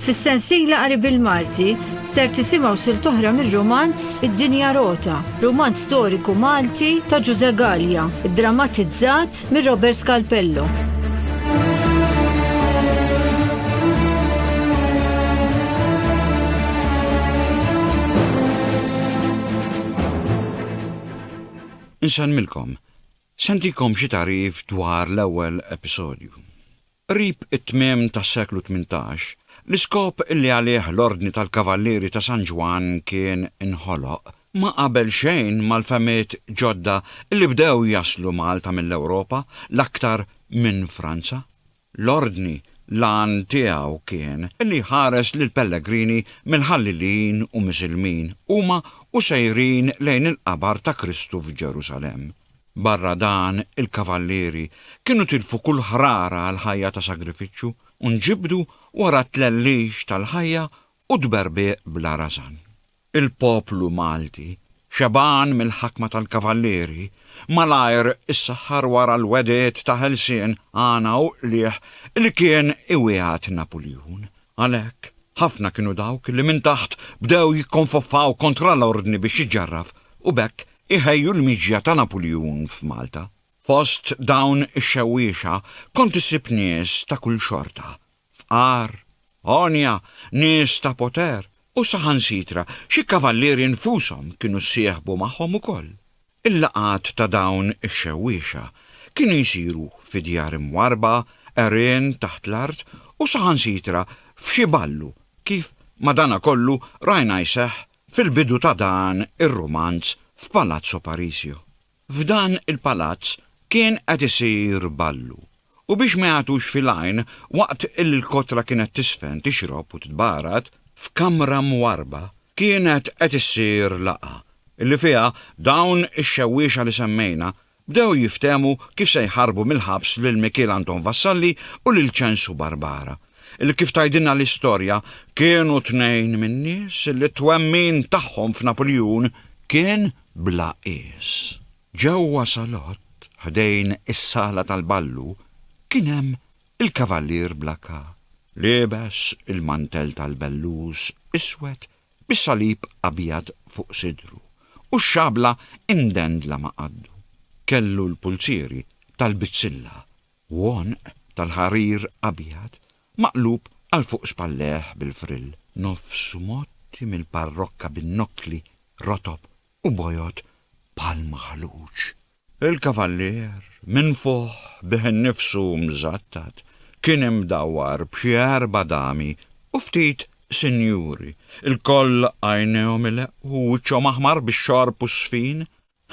Fis-sensiela qari bil-Malti ser tisimgħu sil toħra mir-romanz Id-Dinja Rota, romanz storiku Malti ta' Ġuże Gallia, drammatizzat mir Robert Scalpello. Insellmilkom. Se ntikom xi tagħrif dwar l-ewwel episodju. Qrib it-tmiem tas-seklu tmintax, l-iskop li għalih l-Ordni tal-Kavallieri ta' San Ġwann kien inħoloq ma qabel xejn mal-fehmiet ġodda li bdew jaslu Malta mill-Ewropa, l-aktar minn Franza. L-Ordni l-għan tiegħu kien li jħares lill-pellegrini mill-Ħallilin u Misilmin huma u sejrin lejn il-qabar ta' Kristu f'Ġerusalemm. Barra dan il-kavallieri kienu tilfu kull ħrara għall-ħajja ta' sagrifiċċju u nġibdu wara t-tlellix tal-ħajja u tberbieq bla rażan. Il-poplu Malti, xebgħan mill-ħakma tal-Kavallieri, malajr issaħħar wara l-wegħdiet ta' ħelsien, għana u qligħ li kien iwiegħed Napuljun. Għalhekk, ħafna kienu dawk li minn taħt bdew jikkonfoffaw kontra l-Ordni biex iġġarraf u b'hekk iħejju l-miġja ta' Napuljun f'Malta. Fost dawn ix-xewwiexa kont issib nies ta' kull xorta, Fqar, għonja, nies ta' poter u saħansitra xi kavallieri nfushom kienu ssieħbu magħhom ukoll. Il-laqgħat ta' dawn ix-xewwiexa kienu jsiru fi djar imwarrba, għerien taħt l-art u saħansitra f'xi ballu kif madanakollu rajna jseħħ fil-bidu ta' dan ir-rumanz f'Palazzo Parisio. F'dan il-palazz kien qed isir ballu, u biex ma jagħtux fil-għajn waqt li l-kotra kienet tiżfen, tixrob u titbarat, f'kamra mwarrba kienet qed issir laqgħa, li fiha dawn ix-xewwiexa li semmejna bdew jiftehmu kif se jħarrbu mill-ħabs lil Mikiel Anton Vassalli u lil Ċensu Barbara, li kif tgħidilna l-istorja kienu tnejn min-nies li t-twemmin tagħhom f'Napuljun kien bla qies. Ġewwa salott ħdejn is-sala tal-ballu kien hemm il-kavallier bla kap, liebes il-mantell tal-bellus iswed bi salib abjad fuq sidru u x-xabla imdendla ma' qaddu. Kellu l-pulzieri tal-bizzilla u għonq tal-ħarir abjad Maqlub għal fuq spallejh bil-frill. Nofsu mgħotti mill-parrokka bin-nokkli rotob u bojod bħal maħluġ. Il-kavallier, minfuħ bih innifsu u mżattat, kien imdawwar b'xi erba' dami u ftit sinjuri, ilkoll għajnejhom ileqqu u wiċċhom aħmar bix-xorb u s-sfin,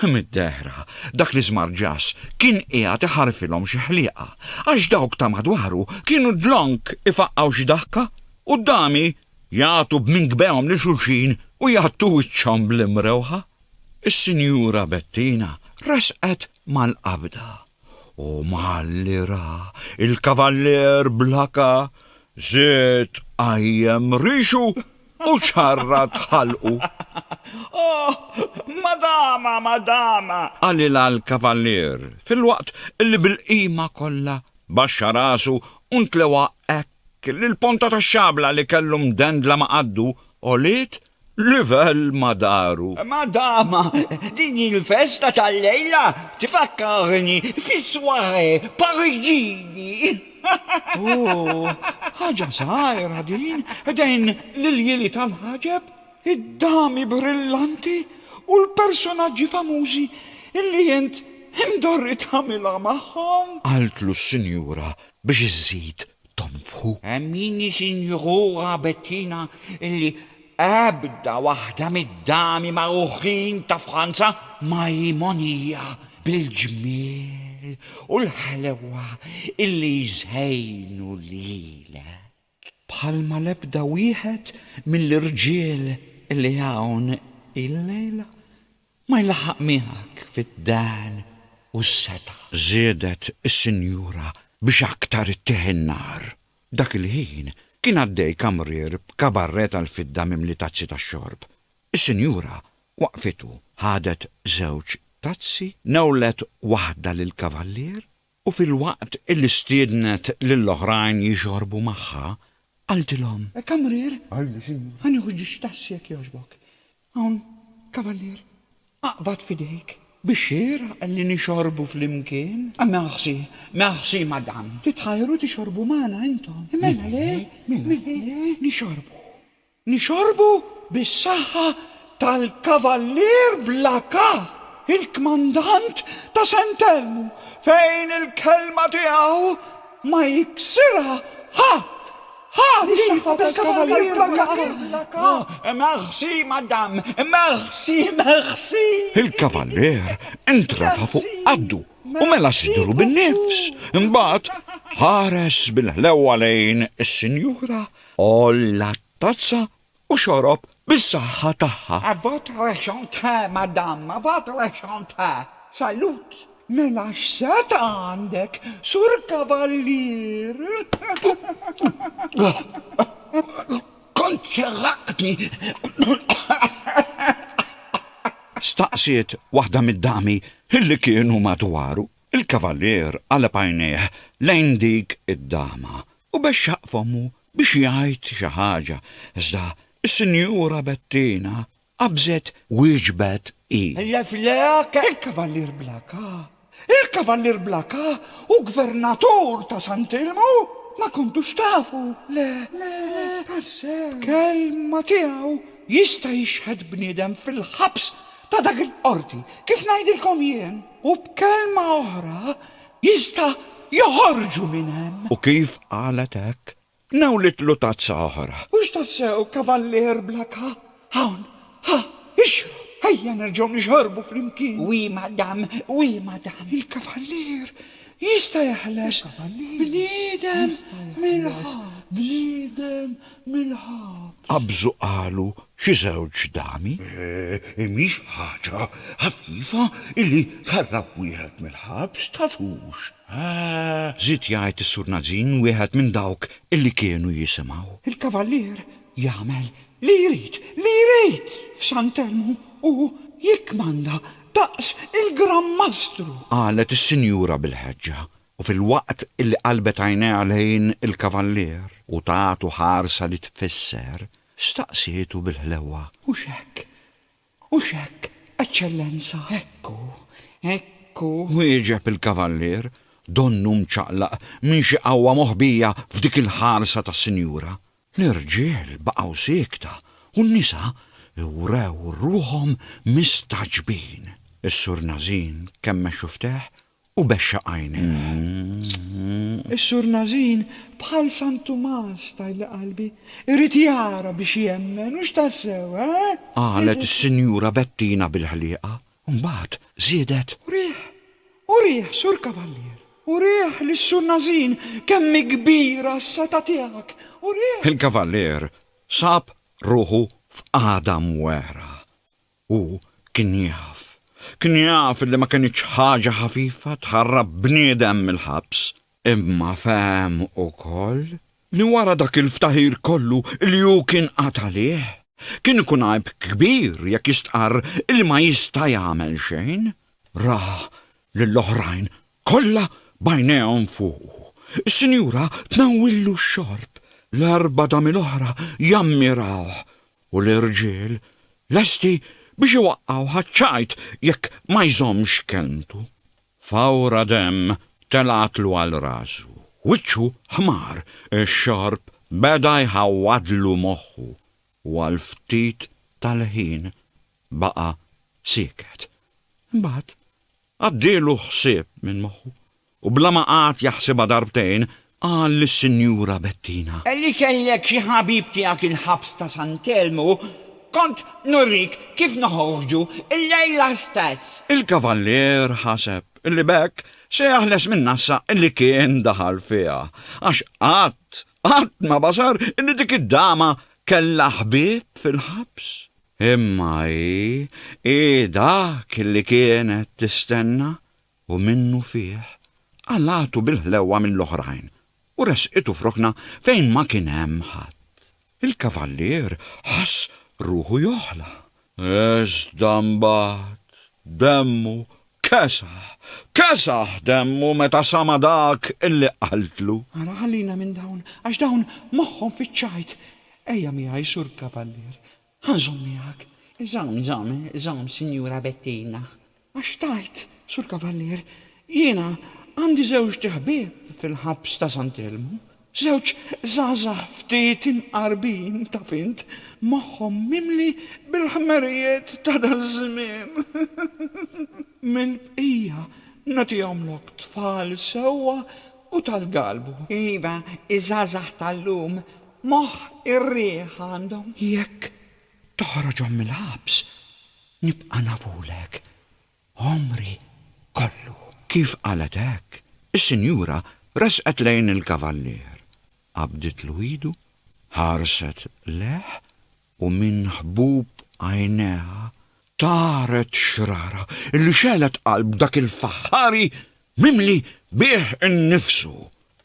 Mid-dehra, dak l-iżmarġaż kien qiegħed iħarrfilhom xi ħlieqa, għax dawk ta' madwaru kienu dlonk ifaqqgħu xi daħka, u d-dami jagħtu b'minkbehom lil xulxin u jgħattu wiċċhom bl-imrewħa. Is-Sinjura Bettina resqet mal-qabda, u malli ra l-Kavallier Blaka żied qajjem rixu Mhux ħarra tħallqu! Oh, madama, madama! qalilha l-Kavallier, filwaqt li bil-qima kollha baxxa rasu u ntlewha hekk li l-ponta tax-xabla li kellu mdendla ma' qaddu għoliet livell ma' dahru. Madama, din il-festa tal-lejla tfakkarni fis-soirée Pariġini! Ooh, ħaġa żgħira din, dejn l-iljieli tal-ħaġeb, id-dami brillanti u l-personaġġi famużi illi int imdorri tagħmilha magħhom! Qaltlu s-sinjura biex iżżid tonfħu. Emmini sinjura Bettina illi Ebda waħda mid-dami magħrufin ta' Franza ma hi mogħnija bil-ġmiel u l-ħelwa illi jżejnu lilek. Bħalma l-ebda wieħed mill-irġiel illi hawn illejla ma jlaħħaq miegħek fid-dehn u s-setgħa. Żiedet is-sinjura biex aktar ittiegħ in-nar Dak il-ħin kien għaddej kamrier b'kabarrè tal-fidda mimli tazzi tax-xorb. Is-sinjura waqfit u ħadet żewġ tazzi, newlet waħda lill-kavallier u filwaqt illi stiednet lill-oħrajn jixorbu magħha, qaltilhom, Kamrier, ħa nieħu ġiex tazzi jekk jogħġbok. Hawn, kavallier, aqbad f'idejk. Bix-xieraq li nixorbu flimkien? Merci, merci, madam. Titħajru tixorbu magħna intom? Mela le, mela le, nixorbu, nixorbu bis-saħħa tal-Kavallier bla Kap, il-Kmandant ta' St. Elmu, fejn il-kelma tiegħu ma jiksirha ħadd! Ha! Ix-xaffa tal-Kavalier Blackack! Ha! Merci, madame! Merci, merci! Il-Kavalier intrafa' fuq qaddu u mela sidru bin-nifs. Imbagħad ħares bil-ħlewwa lejn is-Sinjura, għolla t-tazza u xorob bis-saħħa tagħha. A votre chante, madame, a votre chante. Salut! Mela x'set għandek, Sur Kavallier? Kont ċerraqtni! staqsiet waħda mid-dami li kienu madwaru. Il-Kavallier qaleb għajnejh lejn dik id-dama u bexxaq fommu biex jgħid xi ħaġa, iżda s-Sinjura Bettina qabżet wieġbet hi. Il-Kavallier Blaka, il-Kavallier Blaka hu Gvernatur ta' Sant'Ilmu? Ma kontux tafu, le, le, tassew. B'kelma tiegħu jista' jixhed bniedem fil-ħabs ta' dak il-Qorti, kif ngħidilkom jien? U b'kelma oħra Jista' joħorġu minn hemm. U kif qalet hekk, nawlitlu tazza oħra. Hux tassew kavallier bla kap? Hawn, ħa, ixrob, ejja nerġgħu nixorbu flimkien. Oui, madame, oui, madame. Il-kavallier jista' jeħles bniedem mill-ħabs. mill-ħabs. Qabżu qalu xi żewġ dami. Hi mhix ħaġa ħafifa illi tħarrab wieħed mill-ħabs, taf hux? żied jgħid is-Sur Nazin wieħed minn dawk illi kienu jisimgħu. Il-Kavallier jagħmel li jrid, li jrid f'Sant'Elmu u jikkmanda daqs il-Gran Mastru! Qalet is-Sinjura bil-ħeġġa. u filwaqt illi qalbet għajnejha lejn il-kavallier u tagħtu ħarsa li tfisser, staqsietu bil-ħlewwa. Hux hekk, hux hekk, Eċċellenza? Hekk hu, hekk hu. Wieġeb il-kavallier, donnu mċaqlaq minn xi qawwa moħbija f'dik il-ħarsa tas-sinjura. L-irġiel baqgħu siekta u n-nisa wrew ruħhom mistagħġbin. Is-Sur Nażin kemm mexxu fteh u bexxa għajnejh. Is-Sur Nazin, bħal San Tumas, tgħidli qalbi, irid jara biex jemmen, hux tassew, eh? Qalet is-Sinjura Bettina bil-ħlieqa, u mbagħad żiedet. Urih, urih, Sur Kavallier, urih lis-Sur Nazin kemm hi kbira s-setgħa tiegħek, urih! Il-Kavallier sab ruħu f'qagħda mwegħra. Hu kien jaf, kien jaf illi ma kinitx ħaġa ħafifa tħarrab bniedem mill-ħabs, imma fehem ukoll li wara dak il-ftaħir kollu li hu kien qagħad għalih, kien ikun għajb kbir jekk jistqarr illi ma jista' jagħmel xejn. Ra lill-oħrajn kollha b'għajnejhom fuqu. Is-sinjura tnawwillu x-xorb. L-erba' dami l-oħra jammirawh u l-irġiel lesti biex iwaqqgħu ħaċ-ċajt jekk ma jżommx kelmtu. Fawra demm telgħatlu għal rasu, wiċċu ħmar, ix-xorb beda jħawwadlu moħħu u għal ftit tal-ħin baqa' sieket. Imbagħad Għaddielu ħsieb minn moħħu u bla ma qagħad jaħsibha darbtejn qal lis-Sinjura Bettina. Li kellek xi ħabib tiegħek il-ħabs ta' San Telmu, kont nurik kif noħorġu illejla stess. Il-Kavallier ħaseb li b'hekk se jaħles min-nassa li kien daħal fiha, għax qatt Qatt ma basar li dik id-dama kellha ħbieb fil-ħabs. Imma hi, hi dak li kienet tistenna u minnufih qalagħtu bil-ħlewwa mill-oħrajn u ressqitu f'rokna fejn ma kien hemm ħadd. Il-kavallier ħass ruħu joħla Iżda mbagħad demmu kesaħ, kesaħ demmu meta sama' dak illi qaltlu. Ara ħallina minn dawn, għax dawn moħħhom fiċ-ċajt. Ejja miegħi, Sur Kavallier. Ħa nżomm miegħek. Żomm, żomm, żomm, Sinjura Bettina. Għax tgħid, Sur Kavallier, jiena għandi żewġt ħbieb fil-ħabs ta' Sant'Elmu, żewġ żgħażagħ ftit imqarbin, taf int, moħħhom mimli bil-ħmerijiet ta' daż-żmien. Mill-bqija nagħtihomlok tfal sewwa u tal-galbu. Iva, iż-żgħażagħ tal-lum moħħ ir-riħ għandhom. Jekk toħroġhom mill-ħabs, nibqa' nafulek għomri kollu. Kif qalet hekk, is-sinjura resqet lejn il-kavallier, qabditlu idu, ħarset lejh u minn ħbub għajnejha Taret xrara li xegħlet qalb dak il-faħħari mimli bih innifsu.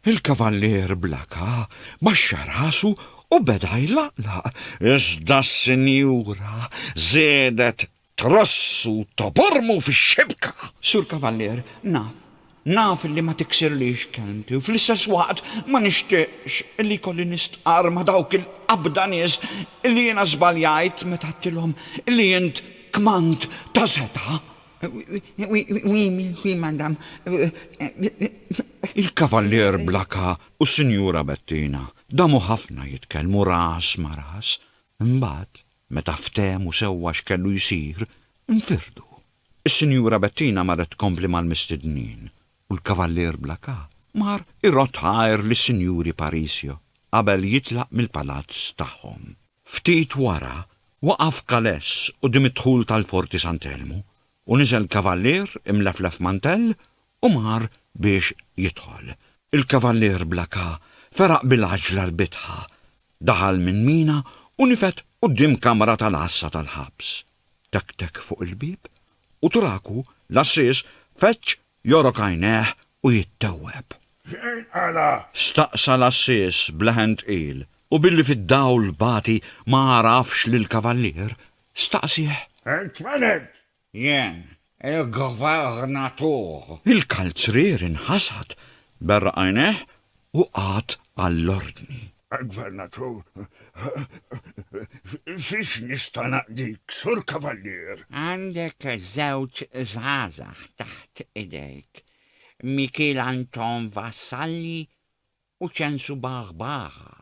Il-kavallier bl-aka baxxa rasu u beda jlaqlaq, iżda s-sinjura żiedet trossu tobormu fix-xibka. Sur Kavallier, naf Naf li ma tiksirlix kelmti u fl-istess waqt ma nixtieqx li jkolli nistqarr ma' dawk il-qabda nies li jiena żbaljajt meta għedtilhom li int kmand ta' setgħa. Oui, oui, madame. Il-Kavallier Blacka u s-Sinjura Bettina damu ħafna jitkellmu ras ma' ras, imbagħad, meta ftehmu sewwa x'kellu jsir, infirdu. Is-Sinjura Bettina marret tkompli mal-mistednin u l-Kavallier Blacas mar irodd ħajr lis-Sinjuri Parisio qabel jitlaq mill-palazz tagħhom. Ftit wara, waqaf Kalles quddiem id-dħul tal-Forti Sant'Elmu u niżel Kavallier imleflef mantell U mar biex jidħol. Il-kavallier bla ka feraq bil-għaġla l-bitħa, daħal minn mina u nifed quddiem kamra tal-għassa tal-ħabs. Tek tek fuq il-bieb u traku l-għassies feġġ jogħrok għajnejh u jittewweb. X'qed tqala? Staqsa l-għassies b'leħen tqil u billi fid-dawl bati ma għarafx lill-kavallier, staqsieh. Qed tfenet! Jien, il-gvernatur. Il-kalzrier inħasad, berraq għajnejh u qagħad għall-ordni. Gvernatur, Fiex nista' naqdik, Sur Kavallier? Għandek żewġ żgħażagħ taħt idejk, Mikiel Anton Vassalli U ċensu baħ baħa.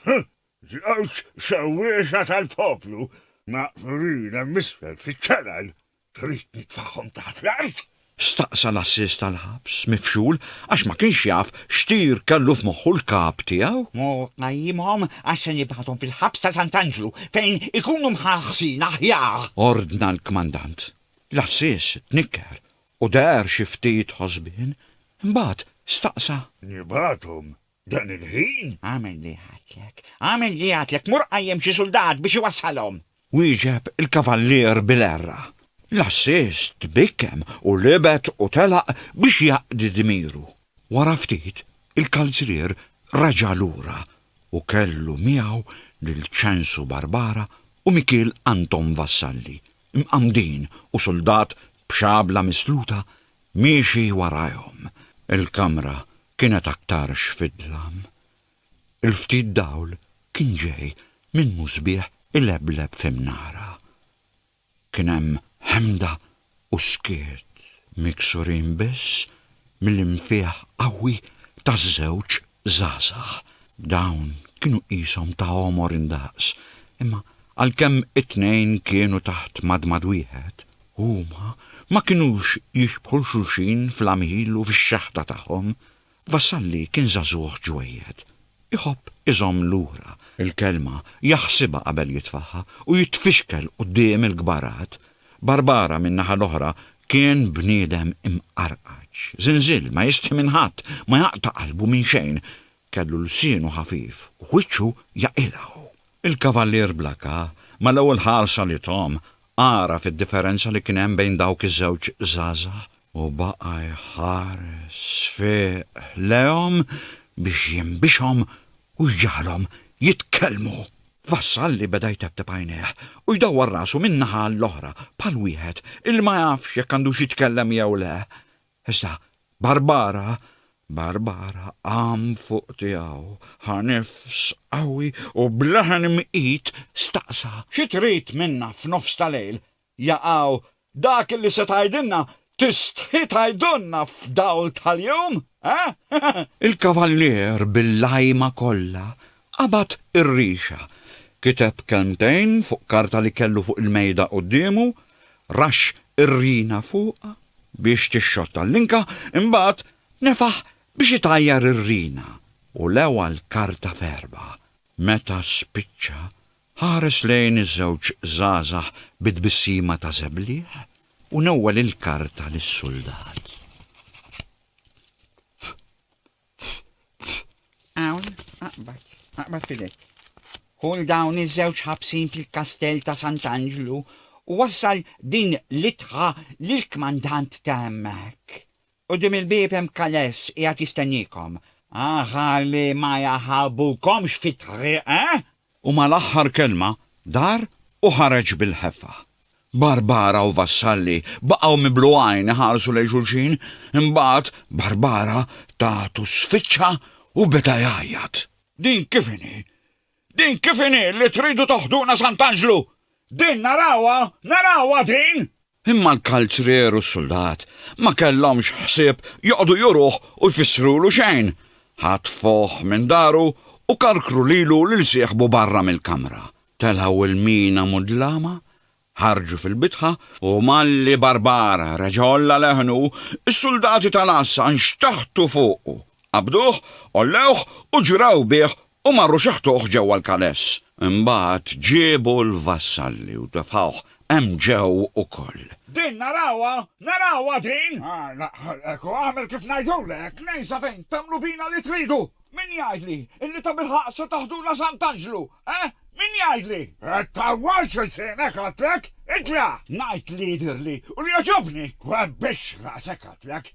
Huh! Żewġ sewwieqa tal-poplu maqbrin hemm isfel fiċ-channel! Trid nitfagħhom taħt l-art? Staqsa l-għassies tal-ħabs, mifxul, għax ma kienx jaf x'tir kellu f'moħħu l-kap tiegħu. Mur qajjimhom għax se nibgħathom fil-ħabs ta' Sant'Anġlu fejn ikunu mħarħsin aħjar! Ordna l-kmandant. L-għassies tnikker U deher xi ftit ħosbien, imbagħad staqsa. Nibgħathom dan il-ħin? Agħmel li jgħidlek, agħmel li jgħidlek, mur qajjem xi suldat biex iwassalhom! Wieġeb il-kavallier bil-għerra. L-għassies tbikkem u libed u telaq biex jaqdi dmiru. Wara ftit, il-kalzrier reġa' lura u kellu miegħu lil Ċensu Barbara u Mikiel Anton Vassalli, mqammdin u suldat b'xabla misluta miexi warajhom. Il-kamra kienet aktarx fid-dlam. Il-ftit dawl kien ġej minn musbieħ ilebleb fi mnara. Kien hemm ħemda u skiet, miksurin biss mill-infiħ qawwi taż-żewġ żgħażagħ, dawn kienu qishom ta' għomor indaqs, imma għalkemm it-tnejn kienu taħt madmad wieħed, huma ma kinux jixbħu 'l xulxin fl-għamil u fix-xeħta tagħhom. Vassalli kien żagħżugħ ġwejjed. Iħobb iżomm lura l-kelma, jaħsibha qabel jitfagħha u jitfixkel quddiem il-kbarat. Barbara, min-naħa l-oħra, kien bniedem imqarqaġ, żinżil, ma jistħi minn ħadd, ma jaqta' qalbu minn xejn. Kellu lsienu ħafif u wiċċu jaqilgħu. Il-Kavallier Blakka, mal-ewwel ħarsa li tahom, għaraf id-differenza li kien hemm bejn dawk iż-żewġ żgħażagħ u baqa' jħares sfiq lejhom biex jinbixhom u jġagħalhom jitkellmu. Vassalli beda jtebteb għajnejh u jdawwar rasu minn naħa għall-oħra bħal wieħed illi ma jafx jekk għandux jitkellem jew le. Iżda Barbara, Barbara qam fuq tiegħu, ħa nifs qawwi u b'leħen mqit staqsa. Xi trid minna f'nofs ta' lejl? Jaqaw, dak li se tgħidilna tistħi tgħidulna f'dawl tal-jum, eh? Il-Kavallier bil-lajma kollha qabad ir-rixa, kiteb kelmtejn fuq karta li kellu fuq il-mejda quddiemu, raxx ir-rina fuqha biex tixxotta l-linka, imbagħad nefaħ biex itajjar ir-rina u lewa l-karta f'erbgħa. Meta spiċċa, Ħares lejn iż-żewġ żgħażagħ bi tbissima ta' żebliħ u newwel il-karta lis-suldat. Hawn, aqbad, aqbad f'idejk. Ħul dawn iż-żewġ ħabsin fil-kastell ta' Sant'Anġlu u wassal din l-itħa lill-kmandant ta' hemmhekk. Quddiem il-bieb hemm kaless qiegħed jistenniekom. Aħħar li ma jaħarbukomx fit-triq, eh? U mal-aħħar kelma dar u ħareġ bil-ħeffa. Barbara u Vassalli baqgħu miblughajn iħarsu lejn xulxin, imbagħad Barbara tatu sfiċċa u beda jgħajjat. Din kif inhi? Din kif inhi li tridu toħduna Sant'Anġlu? Din narawha, narawha din? Imma l-kalzrier u s-suldat ma kellhomx ħsieb joqogħdu juruh u jfissrulu xejn. Ħatfuh minn daru u karkru lilu lil sieħbu barra mill-kamra. Telgħu l-mina mudlama, ħarġu fil-bitħa u malli Barbara reġa' għolla leħnu, is-suldati tal-għassa nxtaħtu fuqu, qabduh, għollewh u ġraw bih U marru xeħtuh ġewwa l-kaless. Imbagħad ġiebu l-vassalli u tefgħuh hemm ġew ukoll. Din narawha! Narawha din! Hekk hu, agħmel kif ngħidulek! Ngħid sa fejn tagħmlu bina li tridu! Min jgħidli illi tabilħaqq se taħdulha Sant'Anġlu, eh? Min jgħidli? Qed tawwal x'ilsienek għidtlek! Itla'! Ngħid li jidhirli u li jogħġobni! Webbix raqsek għidtlek!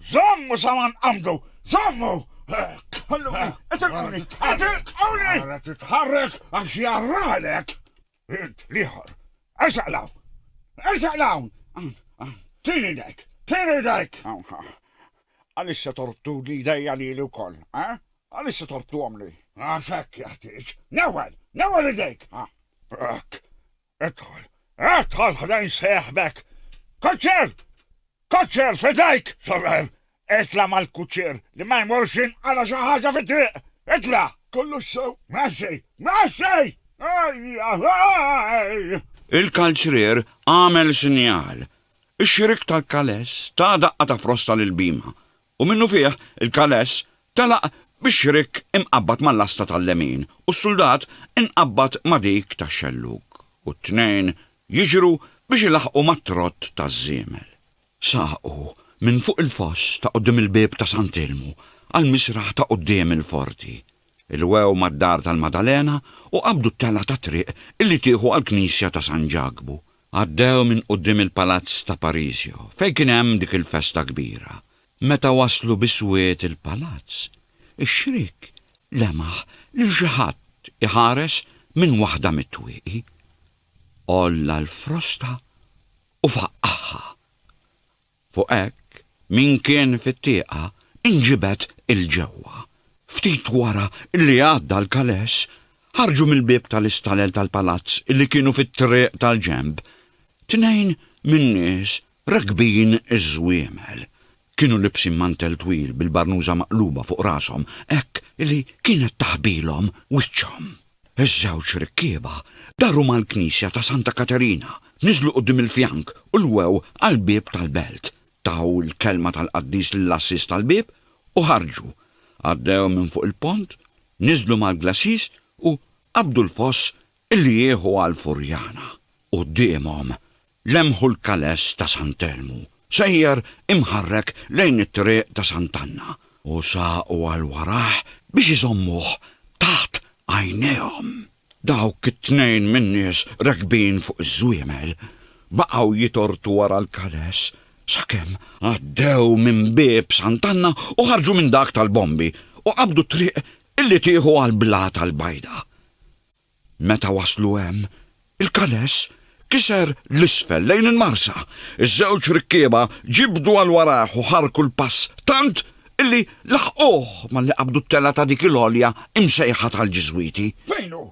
Żommu sa ma nqabdu! Żommu! Ħalluni! Itilquni! Itilquni! Ara titħarrek għax jarralek! Int, l-ieħor! Ersaq 'l hawn! Ersaq 'l hawn! Tini idejk! Tini idejk! Għaliex se torbtuli idejja lili wkoll, ha? Għaliex se torbtuhomli? Għax hekk jeħtieġ! Newwel! Newwel idejk! Hekk! Idħol, idħol ħdejn sejħbek! Kuċċier! Kuċċier fidejk, sorel! Itla mal-kuċċier li ma jmurx jinqala xi ħaġa fit-triq! Itla! Kollux sew! Mexxi! Mexxi! Il-kalċrier għamel sinjal. Ix-xirik tal-kales ta' daqqa ta' frosta lil Bima U minnufih, il-kależ telaq bix-xrik imqabbad mal-lasta tal-lemin u s-suldat inqabbad ma' dik tax-xellug, u t-tnejn jiġru biex ilaħħqu mat-trott taż-żiemel. Saqu minn fuq il-foss ta' quddiem il-bieb ta' Sant'Ilmu għall-misraħ ta' quddiem il-forti. Ilwew mad-dar tal-Maddalena u qabdu t-telgħa tat-triq illi tieħu għall-knisja ta' San Ġakbu. Għaddew minn quddiem il-palazz ta' Parisio, fejn kien hemm dik il-festa kbira. Meta waslu biswied il-palazz, ix-xriek lemaħ lil xi ħadd iħares minn waħda mit-twieqi. Għolla l-frosta u faqqagħha. Fuq hekk, min kien fit-tieqa nġibed 'il ġewwa. Ftit wara li għadda l-kales, ħarġu mill-bieb tal-istalel tal-palazz li kienu fit-triq tal-ġenb, tnejn min-nies rakbin iż-żwiemel. Kienu libsin mantell twil bil-barnuża maqluba fuq rashom hekk li kienet taħbilhom wiċċhom. Iż-żewġ rikkieba daru mal-knisja ta' Santa Katerina, niżlu quddiem il-fjank u lwew għall-bieb tal-belt, taw il-kelma tal-qaddis lill-għassies tal-bieb u ħarġu. Għaddew minn fuq il-pont, niżlu mal-glacis u qabdu l-foss li jieħu għall-Furjana. Quddiemhom, Lemħu l-Kales ta' Sant'Elmu, sejjer imħarrek lejn it-Triq ta' Sant'Anna, u saqu għal warajh biex iżommuh taħt għajnejhom. Dawk it-tnejn min-nies rekbin fuq iż-żwiemel baqgħu jitortu wara l-Kales sakemm għaddew minn bieb Sant'Anna u ħarġu minn dak tal-Bombi u qabdu t-triq li tieħu għall-Blata l-Bajda. Meta waslu hemm, il-kaless kiser 'l isfel lejn il-marsa. Iż-żewġ rikkieba ġibdu għal warajh u ħarrku l-pass tant illi laħquh malli qabdu t-telgħa ta' dik il-għolja imsejħa tal-Ġiżwiti. Fejn hu?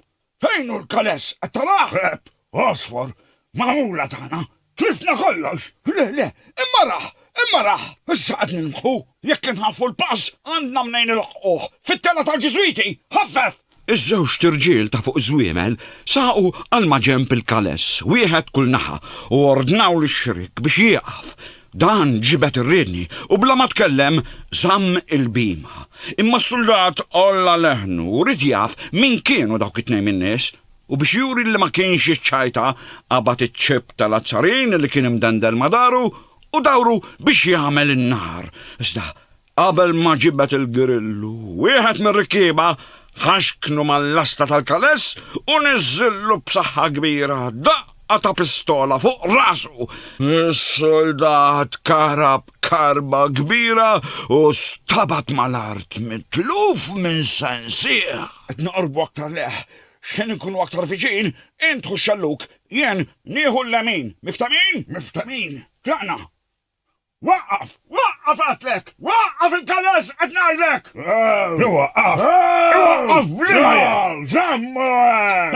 Fejn hu l-kaless? Qed tarah? Għeb! Għosfor! Magħmula tagħna! Tlifna kollox! Le, le! Imma rah! Imma rah! Issa qed nirbħu! Jekk inħaffu l-pass, għandna mnejn ilħquh! Fit-telgħa tal-Ġiżwiti! Ħaffef! Iż-żewġt irġiel ta' fuq żwiemel saqu għal maġenb il-kaless, wieħed kull naħa, u ordnaw lix-xriek biex jieqaf. Dan ġibed ir-riedni u bla ma tkellem żamm il-bhima. Imma s-suldat għolla leħnu u ried jaf min kienu dawk it-tnejn min-nies. U biex juri li ma kienx jiċċajta, qabad iċ-ċip tal-azzarin li kien imdendel ma' daru u dawru biex jagħmel in-nar. Iżda qabel ma ġibed il-grillu, wieħed mir-rikkieba ħaxknu mal-lasta tal-kaless u niżżillu b'saħħa kbira daqqa ta' pistola fuq rasu. Is-suldat karab karba kbira u stabat mal-art mitluf minn sensieħ. Qed noqorbu aktar leħ X'ħin inkunu aktar viċin, int ħu x-xellug, jien nieħu l-lemin. Miftehmin? Miftehmin. Tlaqna. Waqqaf! Waqqaf għedtlek! Waqqaf il-karozz qed ngħidlek! Iwaqqaf! Iwaqqaf b'liema jien! Żamm!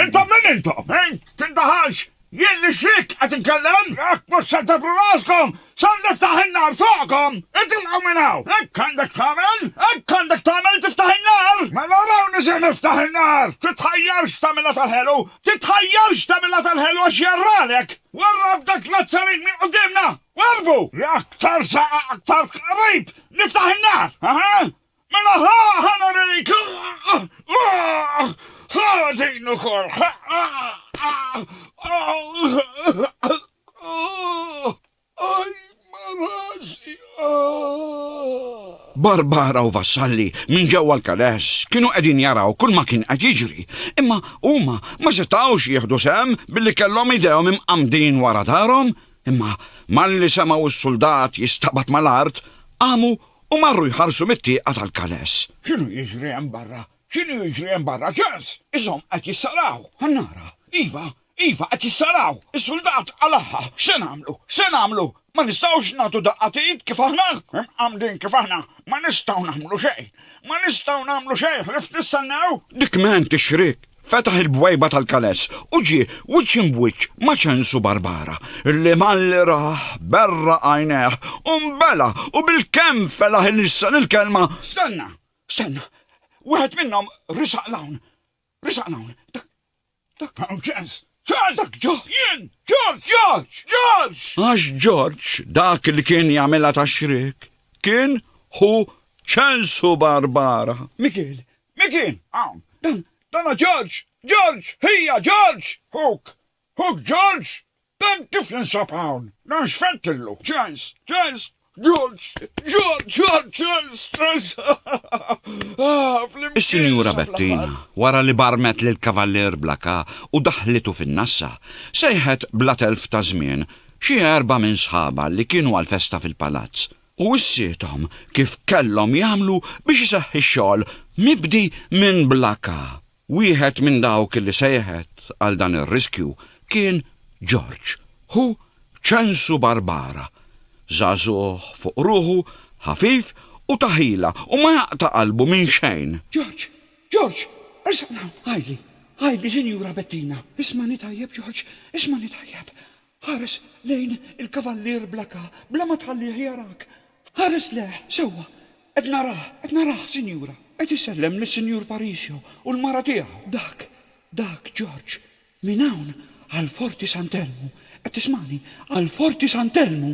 Intom min intom? Int tindaħalx! Jien nixrik qed inkellem, jekk mhux se tibru raskom, ser niftaħ in-nar fuqkom! Itilqu minn hawn! Hekk għandek tagħmel! Hekk għandek tagħmel, tiftaħ in-nar! Mela rawni se niftaħ in-nar! Titħajjarx tagħmilha tal-ħelu! Titħajjarx tagħmilha tal-ħelu għax jarralek! Warrab b'dak Nazzarin minn quddiemna! Warrbu! Li aktar saq aktar qrib niftaħ in-nar! Aha! Mela ħa, ħa nurejk, ħa din ukoll, Aj rasi! Barbara u Vassalli minn ġewwa l-kależ kienu qegħdin jaraw kull ma kien qed jiġri, imma huma ma setgħux jieħdu sehem billi kellhom idejhom imqammdin wara darhom, imma malli semgħu s-suldat jistabat mal-art, qamu u marru jħarsu mit-tieqa tal-Kanes. X'inhu jiġri hemm barra? X'inhu jiġri hemm barra? Charles! Ishom qed jissaraw! Annara! Iva! Iva, qed jissaraw! Is-suldat qalagħha! X'se nagħmlu? X'se nagħmlu? Ma nistgħux nagħtu daqqa t'id kif aħna? Imqammdin kif aħna? Ma nistgħu nagħmlu xejn! Ma nistgħu nagħmlu xejn ħlief nistennew! Dik m'għen tixrik! Fetaħ il-bwejba tal-kanes u ġie wiċċ imbwiċċ ma' ċensu barbara, li malli rah berra għajnejh u nbela u bilkemm felaħ ilissen il-kelma, Stenna! Stenna! Wieħed minnhom risaq 'l hawn! Risaq 'l hawn! Dak, dak hawn ċens! Ċens! Dak Ġorġ! Jien! Ġorġ! Ġorġ! Ġorġ! Għax Ġorġ dak li kien jagħmilha tax-xriek kien ħu ċensu barbara. Mikiel, Min kien hawn? Dan, dan hu George! George! Ħija! George! Ħuk! Ħuk George! Dan kif jinsab hawn? Dan x'fettillu? Charles! Charles! George! George! George! Charles! Charles! Aah! Flimkien! Is-Sinjura Bettina, wara li barmet lill-Kavallier Blacka u daħħlitu fin-nassa, sejħet bla telf ta' żmien xi erba' minn sħabha li kienu għall-festa fil-Palazz u wissiethom kif kellhom jagħmlu biex iseħħ ix-xogħol mibdi minn Blacka. Wieħed minn dawk li sejħet għal dan ir-riskju kien Ġorġ, ħu Ċensu Barbara. Żagħżugħ fuq ruħu, ħafif u ta' ħila u ma jaqta' qalbu minn xejn. Ġorġ! Ġorġ! Ersaq 'l hawn! Għidli, għidli, Sinjura Bettina! Ismagħni tajjeb, Ġorġ, ismagħni tajjeb! Ħares lejn il-kavallier bl-aka bla ma tħallih jarak. Ħares lejh sewwa. Qed narah, qed narah, sinjura. Qed isellem lis-Sinjur Parisio u l-mara tiegħu. Dak, dak Ġorġ. Minn hawn għal Forti Sant'Elmu. Qed tismagħni? Għal Forti Sant'Elmu!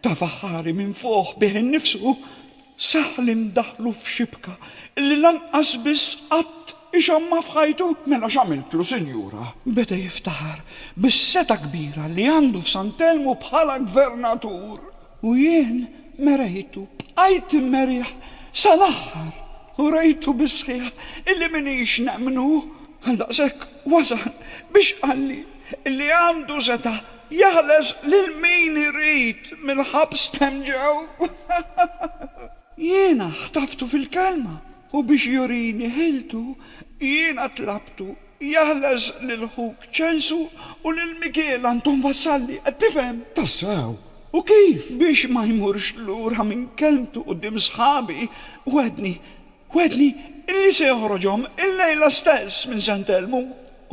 Ta' Faħħari minfuħ bih innifsu sah li ndaħħlu f'xibka li lanqas biss qatt ixammha f'ħajtu. Mela x'għamiltlu, Sinjura? Beda jiftaħar bis-setgħa kbira li għandu f'Sant'Elmu bħala Gvernatur. U jien merejtu, bqajt immerih sal-aħħar u rejtu bis-sħiħ illi m'iniex nemmnu. Għaldaqshekk wasal biex qalli illi għandu setgħa Jeħles lil min irid mill-ħabs t'hemmġew. Jiena ħtaftu fil-kelma. U biex jurini ħiltu, jiena tlabtu, Jeħles lil ħuk Ċensu u lil Mikiel għandhom vassalli, qed tifhem? Tassew? U kif? Biex ma jmurx lura minn kelmtu quddiem sħabi, wegħdni, Wegħedni illi se joħroġhom illejla stess minn Sant'Elmu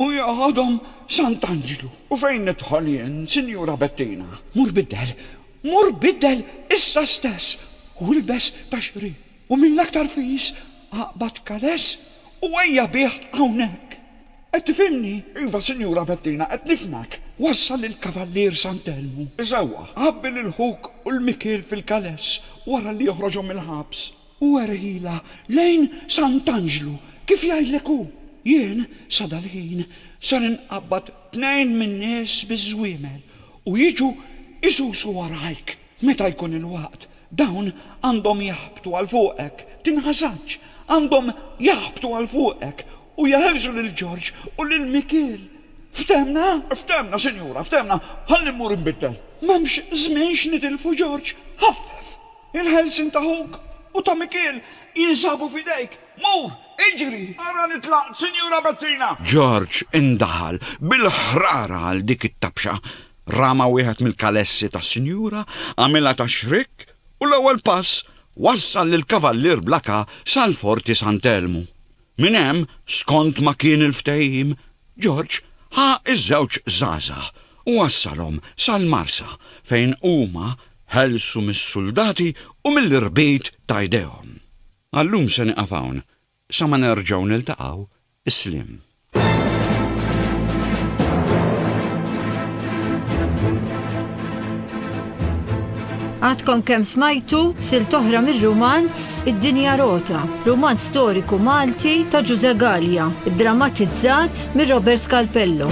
u joħodhom Sant'Anġlu. U fejn nidħol jien, Sinjura Bettina? Mur biddel, mur biddel issa stess u ilbes ta' xri, u mill-aktar fis aqbad kaless u ejja bih hawnhekk. Qed tifhimni? Iva, Sinjura Bettina, qed nifhmek. Wassal lill-Kavallier Sant'Elmu. Isewwa, għabbi lil ħuk u l-Mikiel fil-kaless wara li joħroġhom mill-ħabs. U ergħilha lejn Sant'Anġlu, kif jgħidlek hu. Jien, sadal-ħin, ser inqabbad tnejn min-nies biż-żwiemel u jiġu jsusu warajk. Meta jkun il-waqt, dawn għandhom jaħbtu għal fuqek, tinħasadx, għandhom jaħbtu għal fuqek u jeħilsu lil Ġorġ u lil Mikiel. Ftehmna? Ftehmna, sinjura, ftehmna. Ħalli mmur inbiddel. M'hemmx żmien x'nitilfu, Ġorġ, ħaffef! Il-ħelsien ta' ħuk u ta' Mikiel jinsabu f'idejk. Mur, iġri, ara li tlaqt, Sinjura Bettina! George indaħal bil-ħrara għal dik it-tabxa. Rama wieħed mill-kalessi tas-sinjura, għamilha ta' xrikk u l-ewwel pass wassal lill-Kavallier Blakà sal-Forti Sant'Elmu. Minn hemm, skont ma kien il-ftehim, George ħa ż-żewġ żgħażagħ u wassalhom sal-Marsa fejn huma ħelsu mis-suldati u mill-irbit ta' jdejhom. Għal-lum se nieqaf hawn, sa ma nerġgħu niltaqgħu, is-sliem. Għadkom kemm smajtu silt oħra mir-rumanz Id-Dinja Rota, rumanz storiku Malti ta' Ġużè Galea, iddramatizzat minn Robert Scalpello.